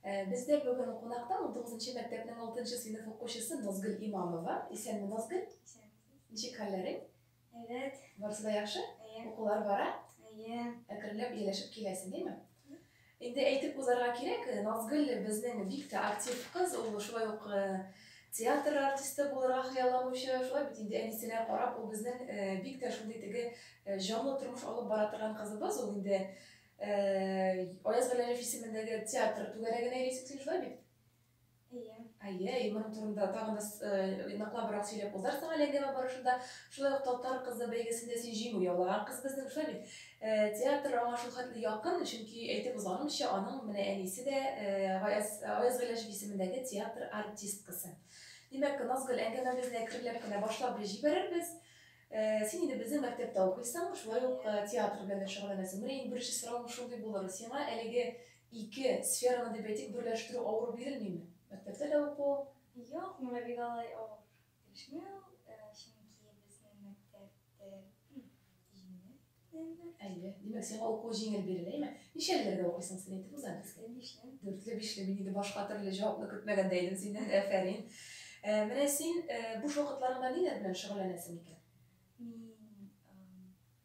Э, Бездә бүген кунакта 19 мәктәпнең 6 сыйныф укучысы Назгөл Имамова. Исәнме, Назгөл? Ничек хәлләрең? Әйбәт. Барысы да яхшы? Әйе. Укулар бара? Әйе. Әкренләп ияләшеп киләсең, димме? Инде әйтеп узарга кирәк, Назгөл безнең бик тә актив кыз, ул шулай ук э, Театр артисты булырга хыялланучы, шулай бит инде, әнисенә карап, ул безнең бик тә шундый теге җанлы тормыш алып бара торган кызыбыз ул инде. Аяз Галиев исемендәге театр түгәрәгенә йөрисең шулай бит? Әйе. Әйе, и моның турында тагын да ныклабрак сөйләп узарсың әле әңгәмә барышында. Шулай ук Татар кызы бәйгесендә син җиңү яулаган кыз безнең, шулай бит? Театр аңа шул хәтле якын, чөнки әйтеп узганымча, аның менә әнисе дә Гаяз, Аяз Гыйләҗев исемендәге театр артисткасы. Димәк, Назгөл, әңгәмәбезне әкренләп кенә башлап җибәрербез. Син инде безнең мәктәптә укыйсың, шулай ук театр белән дә шөгыльләнәсең. Менә иң беренче соравым шундый булыр, сиңа әлеге ике сфераны, дип әйтик, берләштерү авыр бирелмиме? Мәктәптә дә уку. Юк, миңа бик алай авыр. Дәшми ул, чөнки безнең мәктәп тел җиңел белән мәгълүм. Әйе. Димәк, сиңа укуы җиңел бирелә, әйме? Ничәлеләргә укыйсың син әйтеп уза әле. Дүртле, бишле. Дүртле, бишле. Мин инде башка төрле җавапны көтмәгән дә идем синнән. Әфәрин. Менә син буш вакытларыңда ниләр белән шөгыльләнәсең икән? Мин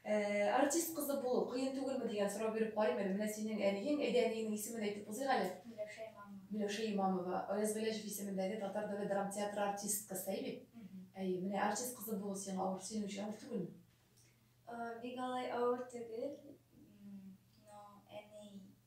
Ә, артист кызы булу кыен түгелме дигән сорау биреп карыйм әле. Менә синең әниең, әйдә, әниеңнең исемен әйтеп узыйк әле. Миләүшә Имамова. Миләүшә Имамова, Аяз Гыйләҗев исемендәге Татар дәүләт драм театры артисткасы, әй бит? Әйе, менә артист кызы булу сиңа авыр, синең өчен авыр түгелме? Бик алай авыр түгел, но әни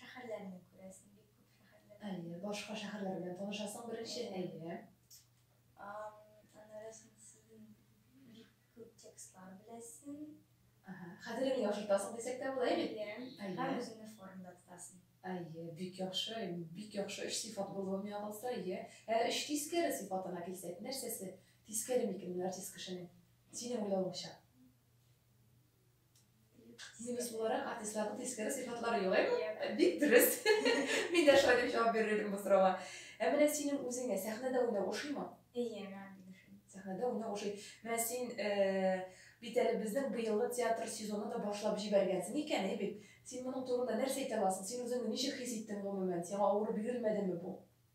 Шәхәрләрне күрәсең, бик күп шәхәрләрне. Әйе, башка шәхәрләр белән танышасың беренче, әйе. Аннары соң син бик күп текстлар беләсең. Хәтереңне яхшыртасың дисәк тә була, әйе бит? Әйе. Һәм үзеңне формада тотасың. Әйе, бик яхшы, бик яхшы өч сыйфат булуы миңа калса, әйе. Ә өч тискәре сыйфатына килсәк, нәрсәсе тискәре микән ул артист кешенең, синең уйлавыңча? Сиземлес буларак, артистларның тискәре сыйфатлары юк, әйе? Бик дөрес. Мин дә шулай дип җавап бирер идем бу сорауга. Ә менә синең үзеңә сәхнәдә уйнау ошыймы? Әйе, миңа бик ошый. Сәхнәдә уйнау ошый. Менә син бит әле безнең быелгы театр сезоны да башлап җибәргәнсең икән, әйе бит? Син моның турында нәрсә әйтә аласың? Син үзеңне ничек хис иттең гомумән? Сиңа авыр бирелмәдеме бу?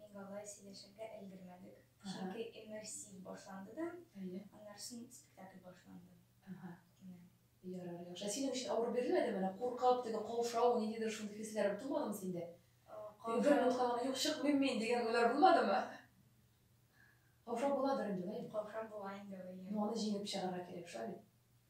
Ник алай сөйләшергә өлгермәдек, чөнки иммерсив башланды да, аннарсын спектакль башланды. Әһә. Менә. Ярар, яхшы. Ә синең өчен авыр бирелмәдеме? Менә куркып, теге каушау, ниндидер шундый хисләр тумадымы синдә? Теге бер минутка гына юк, чыкмыйм мин дигән уйлар булмадымы? Каушау буладыр инде, әйе? Каушау була инде, әйе. Ну, аны җиңеп чыгарга кирәк, шулай бит?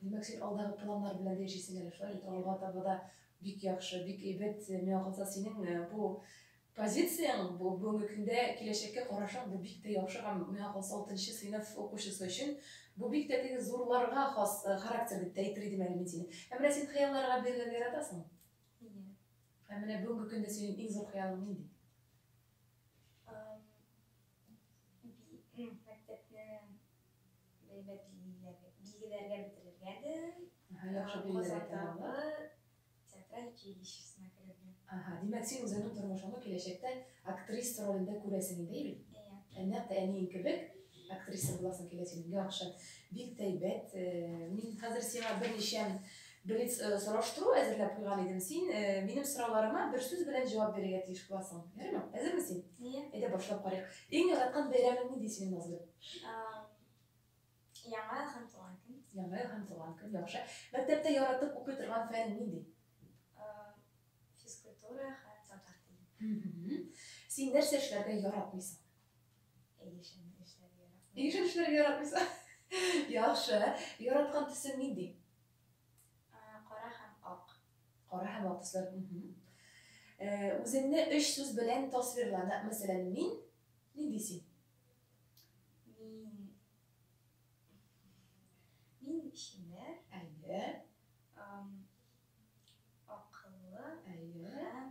Димәк, син алдагы планнар белән дә яшисең әле, шулай бит? Алга таба да бик яхшы, бик әйбәт. Миңа калса, синең э, бу позицияң, бу бүгенге көндә киләчәккә карашың бу бик тә яхшы һәм миңа калса 6 сыйныф укучысы өчен бу бик тә теге зурларга хас э, характер дип тә әйтер идем әле мин сине. Ә менә син хыялларга бирелергә яратасың? Иә. Ә менә бүгенге көндә синең иң зур хыялың нинди? Ам, би- м, Мәктәпне Бәйбәт билгеләргә бетерелгәдер. Аһа, яхшы билгеләргә тәмамлап. Казандагы театраль училищесына керергә. Аһа, димәк, син үзеңнең тормышыңны киләчәктә актриса ролендә күрәсең инде, әйе бит? Әйе. Нәкъ тә әниең кебек актриса буласың киләсең. Яхшы. Бик тә әйбәт. Мин хәзер сиңа берничә Блиц сораштыру әзерләп куйган идем. Син минем сорауларыма бер сүз белән җавап бирергә тиеш буласың. Ярыймы? Әзерме син? Әйе. Әйдә башлап карыйк. Иң яраткан бәйрәмең нинди синең, Назлы? Яңа ел һәм туган көн. Яңа ел һәм туган көн, яхшы. Мәктәптә яратып укый торган фән нинди? Физкультура һәм татар теле. Син нәрсә эшләргә яратмыйсың? Егешен эшләргә яратмыйсың. Егешен эшләргә яратмыйсың. Яхшы. Яраткан төсең нинди? Кара һәм ак. Кара һәм ак төсләр. Үзеңне өч сүз белән тасвирлана. Мәсәлән, мин, нинди син? Мин... Мин шимәр. Әйе. Акыллы. Әйе. Һәм...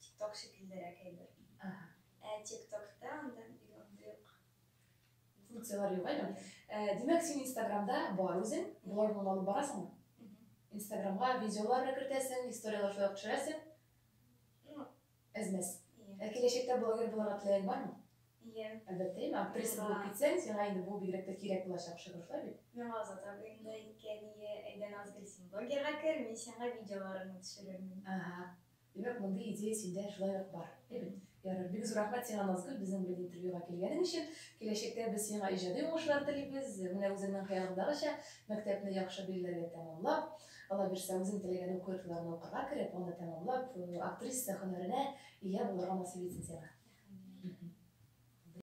Тикток шикеллерәк әйбер. Ага. Ә тиктокта анда бик андый ук функцияләр юк әле. Димәк, син Инстаграмда бар үзең, блогны алып барасыңмы? Инстаграмга видеолар да кертәсең, историяләр шулай ук төшерәсең. Ну, әзмәс. Ә киләчәктә блогер булырга теләгең бармы? Иә. Әлбәттә, мә актриса булып китсәң, сиңа инде бу бигрәк тә кирәк булачак шөгыль, шулай бит? Миңа Азат абый инде әйткән, әйдә Назгөл, син блогерга кер, мин сиңа видеоларыңны төшерермен. Ага. Димәк, мондый идея синдә шулай ук бар. Әйбәт. Ярар, бик зур рәхмәт сиңа, Назгөл, безнең белән интервьюга килгәнең өчен. Киләчәктә без сиңа иҗади уңышлар телибез. Менә үзеңнең хыялыңдагыча, мәктәпне яхшы билгеләргә тәмамлап, аллабирса, үзең теләгән уку йортларына укырга кереп, аны тәмамлап, актриса һөнәренә ия булырга насыйп итсен сиңа. Рәхмәт.